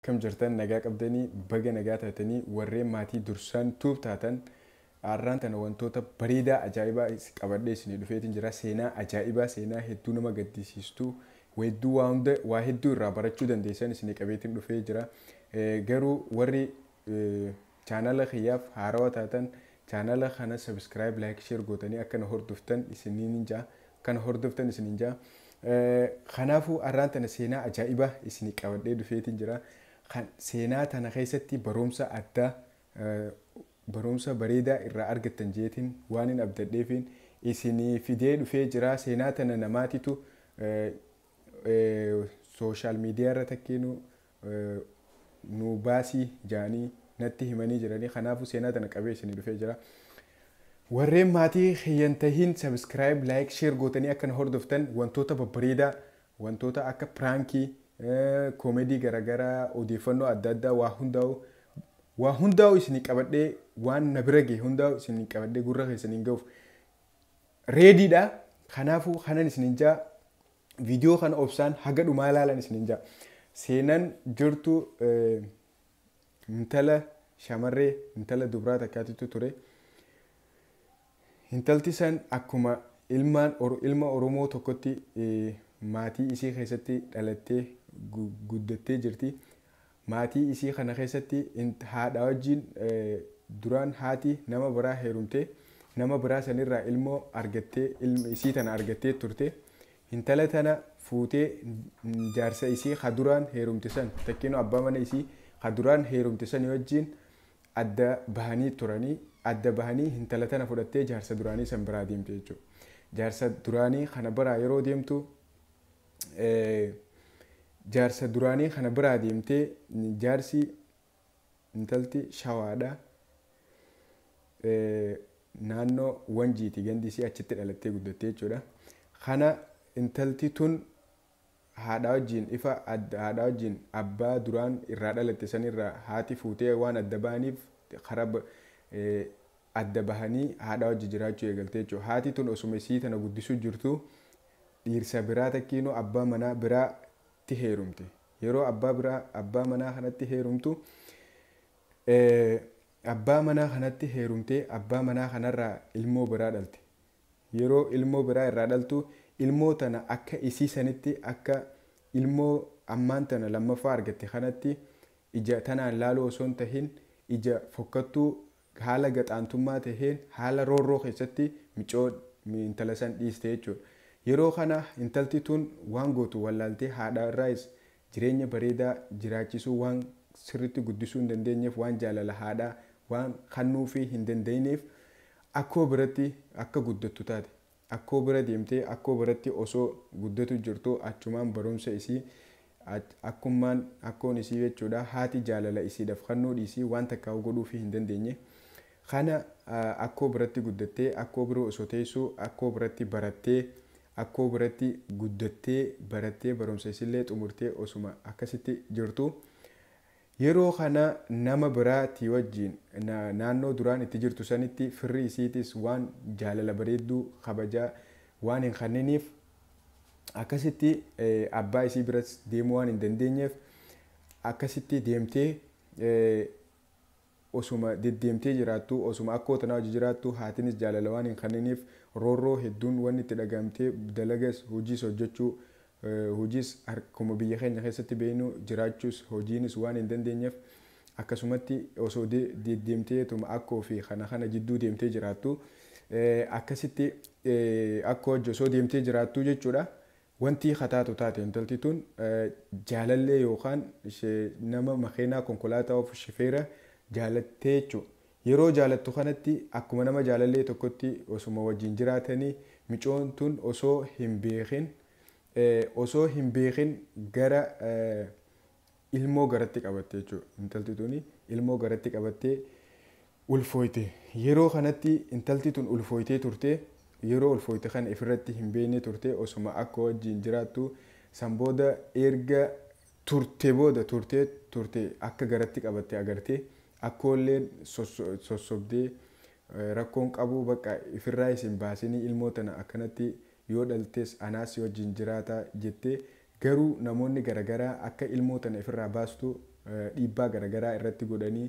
Akkam jirtan nagaa qabdanii baga nagaa taatanii warreen maatii dursaan tube taatan arraan tana wantoota bareedaa ajaa'ibaa qabadhee isinii dhufeetiin jira seenaa ajaa'ibaa seenaa hedduu nama gaddisiistu weedduu waa hunda waa hedduu irraa barachuu dandeessan isinii qabeetiin dhufee jira garuu warri Chaanala kiyyaaf haarawa taatan chaanala kana subscribe like share gootanii akka na hordoftan isiniin ja'a akka na hordoftan isiniin ja'a kanaafuu arraan tana seenaa ajaa'ibaa isinii qabadhee dhufeetiin jira kan seenaa tana keessatti barumsa addaa barumsa bareedaa irraa argattan jeetiin waan hin abdadheefiin isinii fidee dhufee jira seenaa tana namaatitu sooshaal miidiyaa irra takkeenu nuu baasii jaanii natti himanii jiranii kanaafu seenaa tana qabee isinii dhufee jira warreen maatii kiyyan tahin subscribe like share gootanii akka na hordoftan wantoota babbareedaa wantoota akka piraankii koomedii garagaraa odeeffannoo adda addaa waa hundaa'u waa hundaa'u isinii qabadhee waan na bira gahe hundaa'u isinii qabadhee gurra keessaniin ga'uuf reediidha kanaafuu kanan isinin jaa Video kana obsaan haga dhumaa laalan isinin jaa. Seenan jirtu intala shamarree intala dubraa takkaatitu ture. Intalti san akkuma ilmaan ilma Oromoo tokkotti maatii isii keessatti dhalattee guddattee jirti. Maatii isii kana keessatti int haadha wajjiin duraan haati nama biraa heerumtee nama biraa san irraa ilmoo argattee ilma isii tana argattee turte hintala tana fuutee jaarsa isii ka duraan heerumte san takkiinuu abbaa mana isii ka duraan heerumte sanii wajjiin adda bahanii turanii adda bahanii hintala tana fudhattee jaarsa duraanii san biraa deemte jechuudha jaarsa duraanii kana biraa yeroo deemtu Jaarsa duraanii kana biraa deemtee jaarsi intalti shawaadha. Naannoo wanjiiti gandi isii achitti dhalattee guddattee jechuudha. Kana intalti tun haadhaa wajjin ifa haadhaa wajjin abbaa duraan irraa dhalatte sanirraa haati fuutee waan adda ba'aniif karaa adda bahanii haadhaa wajji jiraachuu eegalte jechuudha. Haati tun osuma isii tana guddisuu jirtuu dhiirsa biraa takkiinuu abbaa manaa biraa tti heerumte. Yeroo abbaa biraa abbaa manaa kanatti heerumtu abbaa manaa kanatti heerumtee abbaa manaa kanarraa ilmoo biraa dhalte. Yeroo ilmoo biraa irraa dhaltu ilmoo tana akka isii sanitti akka ilmoo ammaan tana lammaffaa argatte kanatti ija tanaan laaluu osoo hin tahin ija fokkattuu haala gaxaantummaa taheen haala roorroo keessatti micoo, intala san dhiiste jechuudha. Yeroo kana intalti tun waan gootu wallaaltee haadha irraayis jireenya bareedaa jiraachisuu waan sirritti guddisuu hin dandeenyeef waan jaalala haadhaa waan kannuufii hin dandayineef akkoo biratti akka guddattu taate. Akkoo bira deemtee akkoo biratti osoo guddatu jirtuu achumaan barumsa isii akkummaan akkoon isii jechuudha haati jaalala isiidhaf kannuu dhiisii waan takkaahuu godhuufii hin dandeenye kana akkoo biratti guddattee akkoo bira osoo teessuu akkoo biratti barattee akkoo biratti guddattee barattee barumsa isillee xumurtee osuma akkasitti jirtuu Yeroo kana nama biraa tii wajjiin na, naannoo duraan itti jirtu sanitti firri isiitiis waan jaalala bareedduu, kabajaa, waan hin kanniniif akkasitti abbaa isii biras deemuu waan hin dandeenyeef akkasitti deemtee osuma deddeemtee jiraattuu osuma akkoo tanaa wajji jiraattuu haatinis jaalala waan hin kanniniif roorroo hedduun wanni itti dhaga'amtee dalagas hojiis hojjachuu Hojiis akkuma biyya keenya keessatti beeknu jiraachuus hojiinis waan hin dandeenyeef akkasumatti osoo deddeemteetuma akkoo fi kana kana jidduu deemtee jiraattu akkasitti akkoo wajji osoo deemtee jiraattu jechuudha. Wantii kataatu taate intalti tun jaalallee yookaan nama makeenaa konkolaataa of shifeera jaalattee jechuudha. Yeroo jaalattu kanatti akkuma nama jaalallee tokkotti osuma wajjin jiraatanii micoon tun osoo hin beekin osoo hin beekin gara ilmoo garatti qabatte jechuudha. Intalti tuni ilmoo garatti qabattee ulfooyte. Yeroo kanatti intalti tun ulfooytee turte. Yeroo ulfooyte kana ifirratti hin beekne turte osuma akka wajjin jiraattu san booda erga turte booda turtee turte akka garatti qabatte agarte. Akkoolleen sossobdee rakkoon qabuu baqqa ifirraayis hin baasinii ilmoo tana akkanatti yoo dhaltes anaas si wajjin jiraata jettee garuu namoonni garagaraa akka ilmoo tana ifirraa baastu dhiibbaa garagaraa irratti godhanii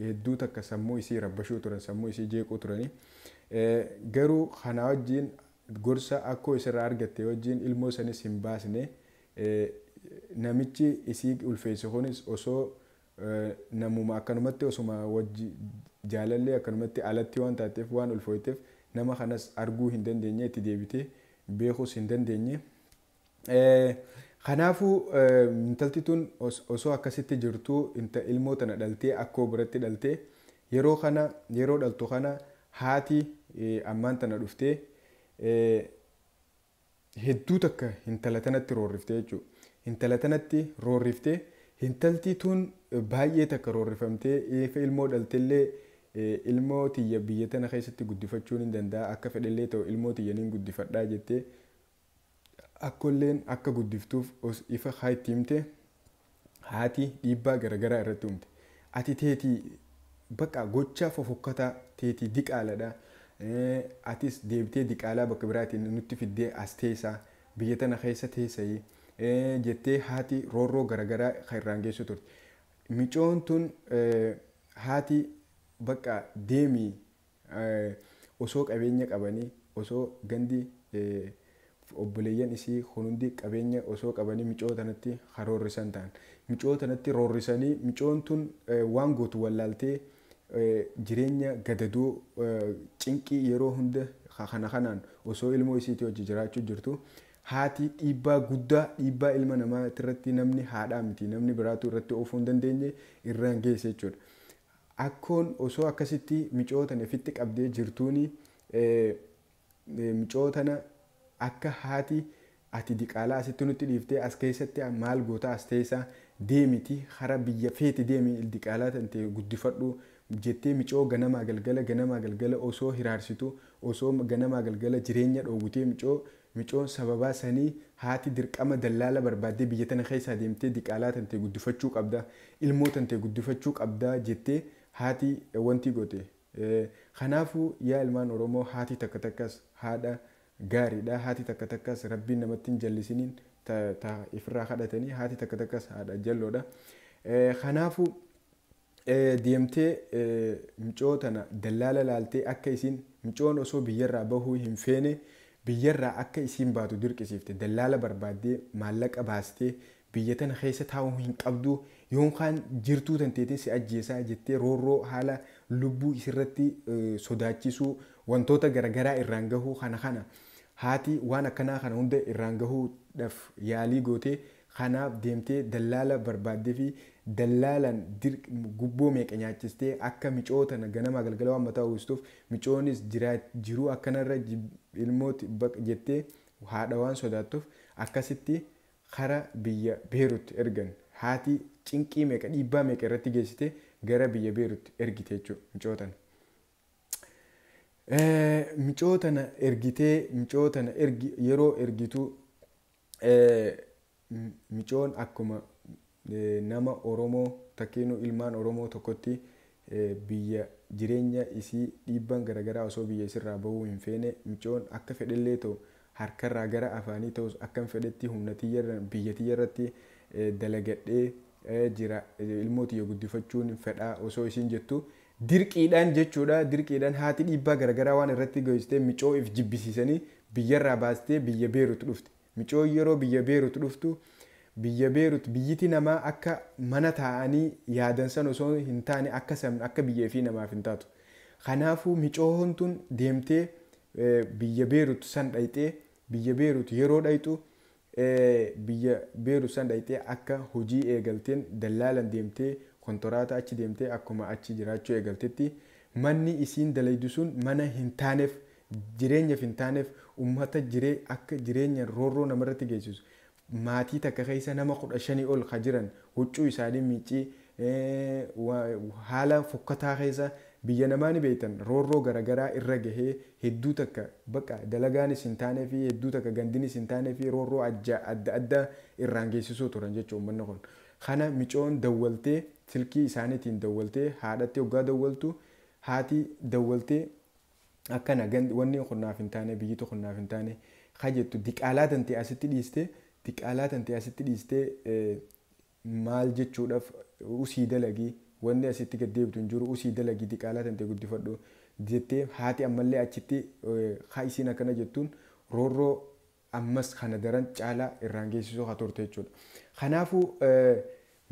hedduu takka sammuu isii rabbashuu turan sammuu isii jeequu turani garuu kanaa wajjin gorsa akkoo isirraa argatte wajjin ilmoo sanis hin baasne namichi isii ulfeesse kunis osoo Namuma akkanumatti osuma wajji jaalallee akkanumatti alatti waan taatteef waan ulfooyteef nama kanas arguu hin dandeenye itti deebitee beekuus hin dandeenye. Kanaafuu intalti tun osoo akkasitti jirtuu ilmoo tana dhaltee akkoo biratti dhalte yeroo kana yeroo dhaltu kana haati ammaan tana dhuftee hedduu takka hintala tanatti roorrifte jechuu hintala tanatti roorrifte hintaltii tuun baay'ee takka roorrifamtee eefa ilmoo dhaltellee ilmoo tiyya biyya tana keessatti guddifachuun hin danda'a akka fedhellee ta'u ilmoo tiyya nin guddifadhaa jettee akkolleen akka guddiftuuf os ifa haa itti himte haati dhiibbaa garagaraa irratti uumte ati teeti baqa gochaa fofokkataa teeti diqaaladha atis deebitee diqaalaa bakka biraatiin nutti fiddee as teessaa biyya tana keessa teessayi jettee haati roorroo garagaraa kan irraan geessu turte micoon tun haati baqa deemi osoo qabeenya qabanii osoo gandi obboleeyyan isii kun hundi qabeenya osoo qabanii micoo tanatti ka roorrisan ta'an. Micoo tanatti roorrisanii micoon tun waan gootu wallaaltee jireenya gadadoo cinqii yeroo hunda ka kana kanaan osoo ilmoo isiitii wajji jiraachuu jirtu haati dhiibbaa guddaa dhiibbaa ilma namaa tirratti namni haadhaa miti namni biraatu irratti oofuu hin dandeenye irraan geesse jechuudha. Akkoon osoo akkasitti micoo tana ifitti qabdee jirtuuni micoo tana akka haati ati diqaalaa asitti nutti dhiiftee as keessatti maal gootaa as teessaa deemiti hara biyya feete deemi diqaalaa tante guddifadhu jettee micoo ganamaa galgala ganamaa galgala osoo hiraarsitu osoo ganamaa galgala jireenya dhoowwitee micoo Micoon sababaa sanii haati dirqama dallaala barbaaddee biyya tana keessaa deemtee diqaalaa tantee guddifachuu qabda, ilmoo tantee guddifachuu qabda jettee haati wantii goote. Kanaafuu yaa ilmaan Oromoo haati takka takkas haadha gaariidha, haati takka takkas Rabbiin namatti hin jallisiniin ta ta ifirraa kadhatanii haati takka takkas haadha jalloodha. Kanaafuu. deemtee micoo tana dallaala laaltee akka isiin micoon osoo biyyarraa bahuu hin feene biyyarraa akka isiin baatu dirqisiifte dallaala barbaaddee maallaqa baastee biyya tana keessa taa'uu hin qabdu yoon kaan jirtuu tanteetiin si ajjeesaa jettee roorroo haala lubbuu isirratti sodaachisuu wantoota garagaraa irraan gahuu kana kana haati waan akkanaa kana hunda irraan gahuudhaaf yaalii gootee Kanaaf deemtee dallaala barbaaddefi dallaalaan dirq gubboo meeqa nyaachistee akka micoo tana ganamaa galgala waan mataa uwwistuuf micoonis jiraat jiruu akkanarra jib ilmoot baq jettee haadha waan sodaattuf akkasitti kara biyya Beerut ergan. Haati cinqii meeqa dhiibbaa meeqa irratti geessitee gara biyya Beerut ergite jechuu micoo tana. Micoo tana ergitee micoo tana ergi yeroo ergituu. Micoon akkuma nama Oromoo takkiinuu ilmaan Oromoo tokkotti biyya jireenya isii dhiibbaan garagaraa osoo biyya isirraa bahuu hin feene micoon akka fedhellee ta'u harkarraa gara afaanii ta'us akkan fedhetti humna tiyyarran biyya tiyyarratti dalagadhee jira ilmoo tiyya guddifachuun fedhaa osoo isiin jettu Dirqiidhaan jechuudha. Dirqiidhaan haati dhiibbaa garagaraa waan irratti geessisteef micoo if jibbisiisanii biyyarraa baastee biyya Beerut dhufte. Micoon yeroo biyya Beerut dhuftu biyya Beerut biyyiti namaa akka mana taa'anii yaadan san osoo hin taane akka san akka biyya ifii namaaf hin taatu. Kanaafuu micoon tun deemtee biyya Beerut san dhayxee biyya Beerut yeroo dhayxu biyya Beirut san dhayxee akka hojii eegalteen dallaalan deemtee kontoraata achi deemtee akkuma achi jiraachuu eegaltetti manni isiin dalaydu sun mana hin taanef jireenyaf hin taanef ummata jiree akka jireenyan roorroo namarratti geessisu maatii takka keessa nama 15 ol ka jiran huccuu isaanii miiccii haala fokkataa keessa biyya namaa ni beektan roorroo garagaraa irra gahee hedduu takka baqa dalagaanis hin taaneefi hedduu takka gandinis hin taaneefi roorroo adda addaa irraan geessisuu turan jechu ummanni kun kana micoon dawwaltee silkii isaanitiin dawwaltee haadhatti oggaa dawwaltu haati dawwaltee akkana wanni kun naaf hin taane biyyiti kun naaf hin taane ka jettu diqaalaa tante asitti dhiistee diqaalaa tante asitti dhiistee maal jechuudhaf usii dalagi wanni asitti gad deebitu hin jiru usii dalagi diqaalaa tantee guddifadhu jettee haati ammallee achitti ka isiin akkana jettuun roorroo ammas kana daran caalaa irraan geessisuu ka turte jechuudha kanaafuu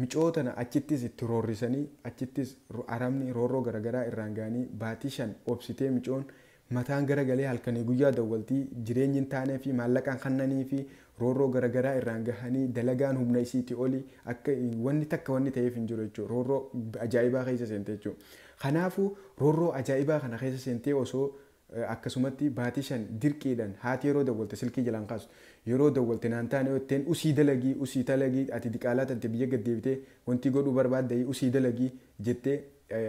micoo tana achittis itti roorrisanii achittis arabni roorroo garagaraa irraan ga'anii baatii shan obsitee micoon Mataan gara galee halkanii guyyaa dawwalti, jireenyi hin taaneefi, maallaqa hin kannaniifi, roorroo gara garaa irraan gahanii, dalagaan humna isiiti oli, akka wanni takka wanni taheef hin jiru jechuudha. Roorroo ajaa'ibaa keessa seente jechuudha. Kanaafuu roorroo ajaa'ibaa kana keessa seentee osoo akkasumatti baatii shan dirqiidhan haati yeroo dawwalte silkii jalaa hin kaastu. Yeroo dawwalte naan taane yoo jetteen usii dalagii, usii talagii, ati diqaalaa tante biyya gad deebitee wantii godhuu barbaaddayi usii dalagii jettee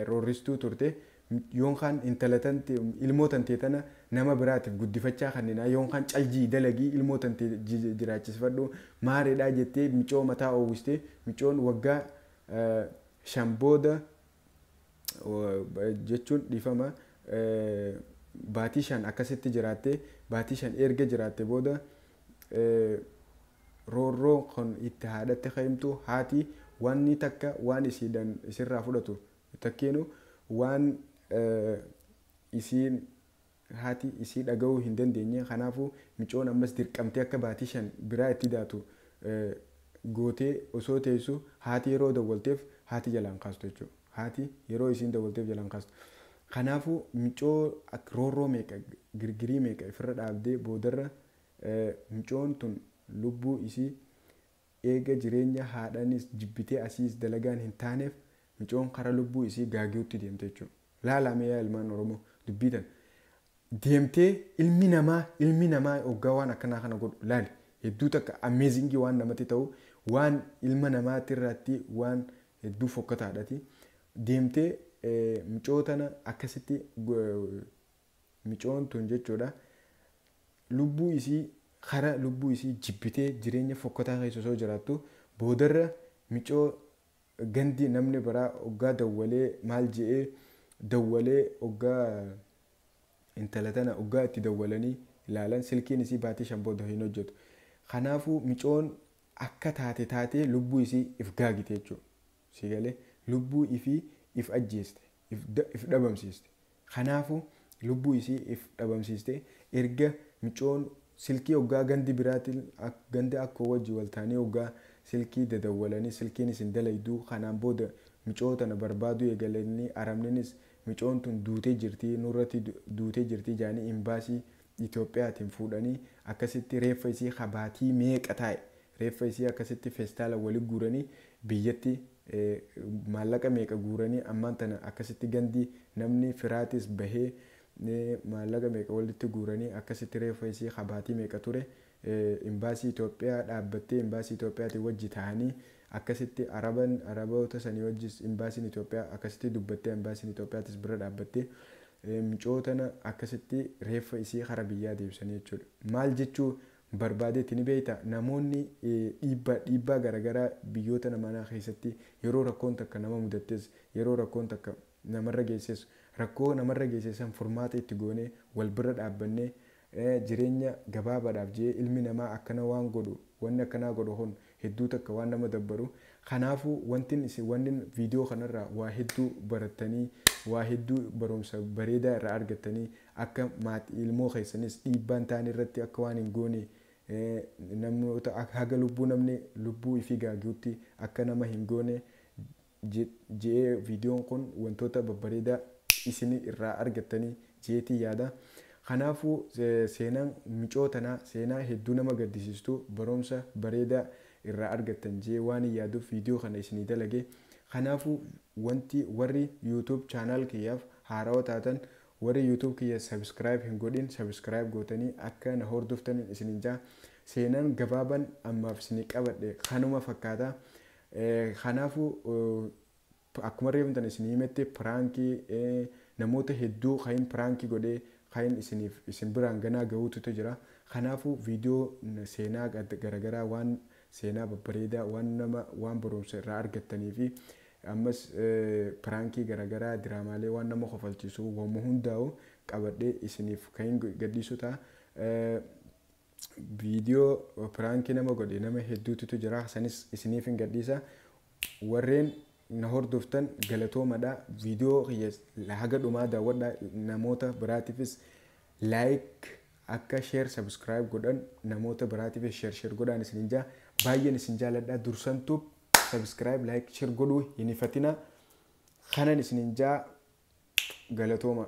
roorristuu turte. Yoon kaan intala tante ilmoo tantee tana nama biraatif guddifachaa kanninaa yoon kaan cal ji'i dalagii ilmoo tantee jiraachisifadhu maareedhaa jettee micoo mataa oowwistee micoon waggaa 5 booda jechuun dhiifama baatii 5 akkasitti jiraattee baatii 5 eerga jiraatte booda roorroo kan itti haadhatti ka'imtu haati waanni takka waan isiidhan isirraa fudhatu Takkiinu waan isiin, haati, isii dhagahuu hin dandeenye. Kanaafu, micoon ammas dirqamtee akka baatii shan biraa itti daatu gootee osoo teessu haati yeroo dawwalteef haati jalaa hin kaastu jechuudha. Haati yeroo isiin dawwalteef jalaa hin kaastu. Kanaafu, micoo roorroo meeqa, girgirii meeqa ifirra dhaabdee boodarra micoon tun lubbuu isii Eega jireenya haadhaniis jibbitee asiis dalagaan hin taaneef micoon kara lubbuu isii gaagiutti deemte jechuu. Laalaa mee yaa ilmaan Oromoo dubbii tana. Deemtee ilmi namaa ilmi namaa hoggaa waan akkanaa kana godhu laali. Hedduu takka amazing waan namatti ta'u waan ilma namaatti irraatti waan hedduu fokkataadhati. Deemtee micoo tana akkasitti micoon tun jechuudha lubbuu isii kara lubbuu isii jibbitee jireenya fokkataa keessa osoo jiraattu boodarra micoo gandi namni biraa oggaa dawwalee maal je'ee dawwalee oggaa intala tana oggaa itti dawwalanii ilaalan silkiin isii baatii shan booda hin hojjetu kanaafuu micoon akka taate taatee lubbuu isii if gaagite jechuudha. Sii galee? Lubbuu ifii if ajjeeste, if if dhabamsiiste. Kanaafu lubbuu isii if dhabamsiiste erga miciyoon silkii hoggaa gandi biraati ak ganda akkoo wajji wal taanii hoggaa silkii dadawwalanii silkiinis hin dalayduu kanaan booda miciyoo tana barbaaduu eegalanii aramninis miciyoon tun duutee jirtii nurratti duutee jirtii jaanii imbaasii Itoophiyaatiin fuudhanii akkasitti reeffa isii ka baatii meeqa taa'e reeffa isii akkasitti feestaalan wali guuranii biyyatti maallaqa meeqa guuranii ammaan tana akkasitti gandi namni firaatis bahee maallaqa meeqa walitti guuranii akkasitti reeffa isii ka baatii meeqa ture Imbaasii Itoophiyaa dhaabbattee Imbaasii Itoophiyaatiin wajji tahanii akkasitti araban araboota sanii wajjis Imbaasiin Itoophiyaa akkasitti dubbattee Imbaasiin Itoophiyaatis bira dhaabbattee micoo tana akkasitti reeffa isii kara biyyaa deebisanii jechuudha. Maal jechuu barbaadeeti ni beeyta namoonni dhiibbaa dhiibbaa garagaraa biyyoota namanaa keessatti yeroo rakkoon takka nama mudattees yeroo rakkoon takka namarra geesses rakkoo namarra geesse san furmaata itti goonee wal birra dhaabbannee jireenya gabaabaadhaaf je'ee ilmi namaa akkana waan godhu wanni akkanaa godhu kun hedduu takka waan nama dabbaru kanaafu wantin isin wannin video kanarraa waa hedduu barattanii waa hedduu barumsa bareedaa irraa argattanii akka maati ilmoo keessanis dhiibbaan taan irratti akka waan hin goone namnoota haga lubbuu namni lubbuu ifii gaagiyutti akka nama hin goone je'ee viidiyoon kun wantoota babbareedaa isini irraa argattanii je'eetiin yaada. Kanaafuu seenaan micoo tanaa seenaa hedduu nama gaddisiistu baroomsa bareedaa irraa argattan je'ee waanin yaaduuf viidiyoo kana isinii dalage. Kanaafuu wanti warri YouTube channel kiyyaaf haarawa taatan warri YouTube kiyya subscribe hin godhin subscribe gootanii akka na hoordoftanin isinin ja'a. Seenaan gabaaban ammaaf isinii qabadhe kanuma fakkaata. Kanaafu akkuma reefu tan isin himette pranki namoota hedduu kain pranki godhe kain isiniif isin biraan ganaa gahuututu jira kanaafu video seenaa garagaraa waan seenaa babbareedaa waan nama waan barumsa irraa argattanii fi ammas pranki garagaraa diraamaalee waan nama kofalchiisu wama hundaa'u qabadhe isiniif kain gadhiisu ta'a Video prank nama godhe nama hedduututu jira sanis isiniifin gadhiisa warreen na hordoftan galatoomadha video kiyya haga dhumaa daawwadha namoota biraatifis like akka share subscribe godhan namoota biraatifis share share godhaan isinin jaa baay'een isin jaaladha dursan tube subscribe like share godhuu hin hifatina kanan isinin jaa galatooma.